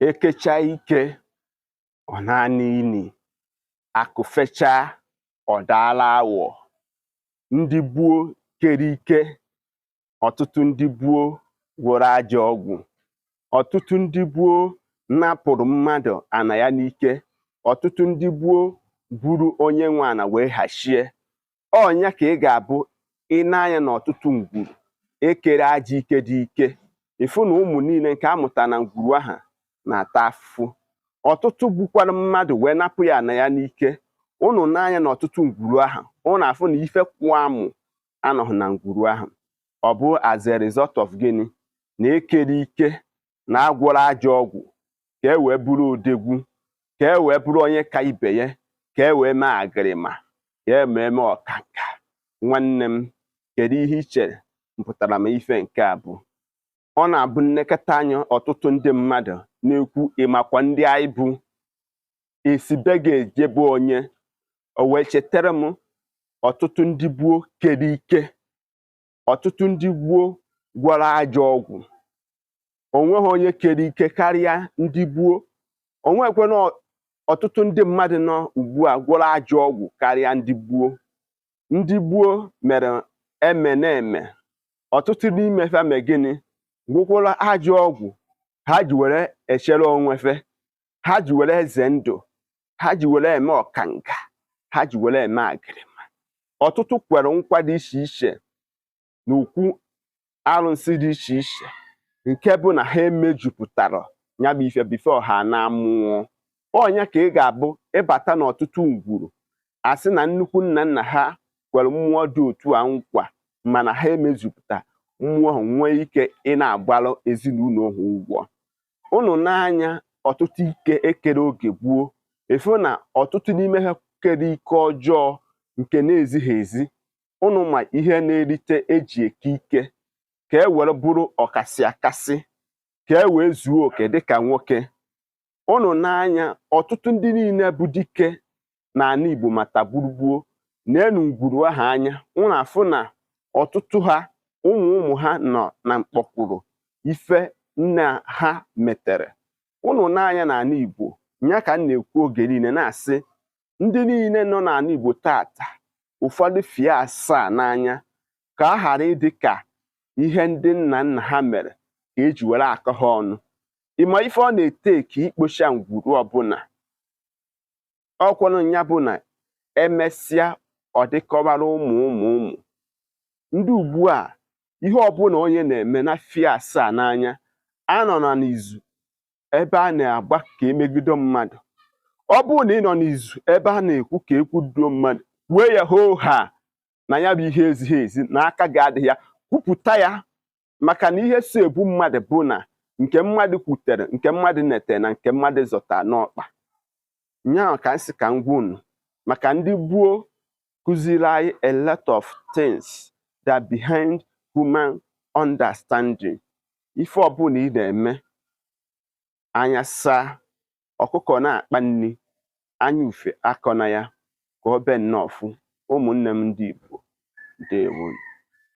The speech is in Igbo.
ekecha ike ọ naa n'ini akụ fechaa ọ daala awọ ndị gboo kere ike ọtụtụ ndị gboo gwọrọ ajọ ọgwụ ọtụtụ ndị gboo napụrụ mmadụ ana ya n'ike ọtụtụ ndị gboo buru onye nwe ana wee hachie ọ nya ka ị ga-abụ i nee anya n'ọtụtụ ngwuru ekere ajọ ike dị ike ị fụ na ụmụ niile nke a mụta na ngwuru ahụ na-ata afụfụ ọtụtụ gbukwara mmadụ wee napụ ya ana ya n'ike ụnụ nee anya na ọtụtụ ngwuru ahụ ụnụ afụ na ife kwụ amụ anọghị na ngwuru ahụ ọ bụ as a result of gịnị na ekere ike na agwọrọ ajọ ọgwụ ka e wee bụrụ odegwu ka e wee bụrụ onye ka ibe ya ka e wee mee agịrịma ka e wee mee ọkanka nwanne m kedu ihe i chere mpụtara m ife nke a bụ ọ na-abụ m lekọta anya ọtụtụ ndị mmadụ na-ekwu ị makwa ndị anyị bụ e si be gị eje be onye o wee chetara m ọtụtụ ndị gboo kere ike ọtụtụ ndị gboo gwọrọ ajọ ọgwụ o nweghị onye kere ike karịa ndị gboo o nwekwana ọtụtụ ndị mmadụ nọ ugbu a gwọrọ ajọ ọgwụ karịa ndị gboo ndị gboo mere eme na-eme ọtụtụ n'ime fa mee gịnị gwọkwara ajọ ọgwụ ha ji were echere onwe fa ha ji were eze ndụ ha ji were eme ọkanga ha ji were eme agịrịma ọtụtụ kwere nkwa dị iche iche na okwu arụsị dị iche iche nke bụ na ha emejupụtarọ ya bụ ife before ha na-anwụọ ọ nya ka ị ga-abụ ị bata n'ọtụtụ ngwuru a sị na nnukwu nna nna ha kwere mmụọ dị otu a nkwa mana ha emejupụta mmụọ ahụ nwee ike ị na-agbalụ ezinụlọ ha ụgwọ ụnụ nee anya ọtụtụ ike ekere oge gboo ị fụ na ọtụtụ n'ime ha kere ike ọjọọ nke na-ezighị ezi ụnụ ma ihe na-erite eji eke ike ka e were bụrụ ọkasị akasị ka e wee zuo oke dịka nwoke ụnụ nee anya ọtụtụ ndị niile bụ dike na ana Igbo ma tagburugbuo neenụ ngwuru ha anya ụnụ afụ na ọtụtụ ha ụmụ ụmụ ha nọ na mkpọkwụrụ ife nna ha metere ụnụ nee anya na ana Igbo ya ka m na-ekwu oge niile na-asị ndị niile nọ na ana Igbo taata ụfọdụ fie asaa n'anya ka ọ ghara ịdị ka ihe ndị nna nna ha mere ka eji were akọ ha ọnụ ị ma ife ọ na-etake ikpocha ngwuru ọbụla ọkwanụ ya bụ na emesịa ọ dịkọbara ụmụ ụmụ ụmụ ndị ugbu a ihe ọbụla onye na-eme nya fie asaa n'anya anọna n'izu ebe a na-agba ka emegido mmadụ ọ bụrụ na ị nọ n'izu ebe a na-ekwu ka ekwudo mmadụ wee ya hoo haa na ya bụ ihe ezighị ezi na aka gị adịghị ya kwupụta ya maka na ihe so egbu mmadụ bụ na nke mmadụ kwutere nke mmadụ netere na nke mmadụ zọta n'ọkpa nyaa ka m sị ka m gwa unu maka ndị gboo kụziri anyị a lot of things that behind human understanding ife ọbụla ị na-eme anya saa ọkụkọ na-akpa nri anya ufe akọna ya ka ọ be nnọọ ọfụ ụmụnne m ndị Igbo ndewo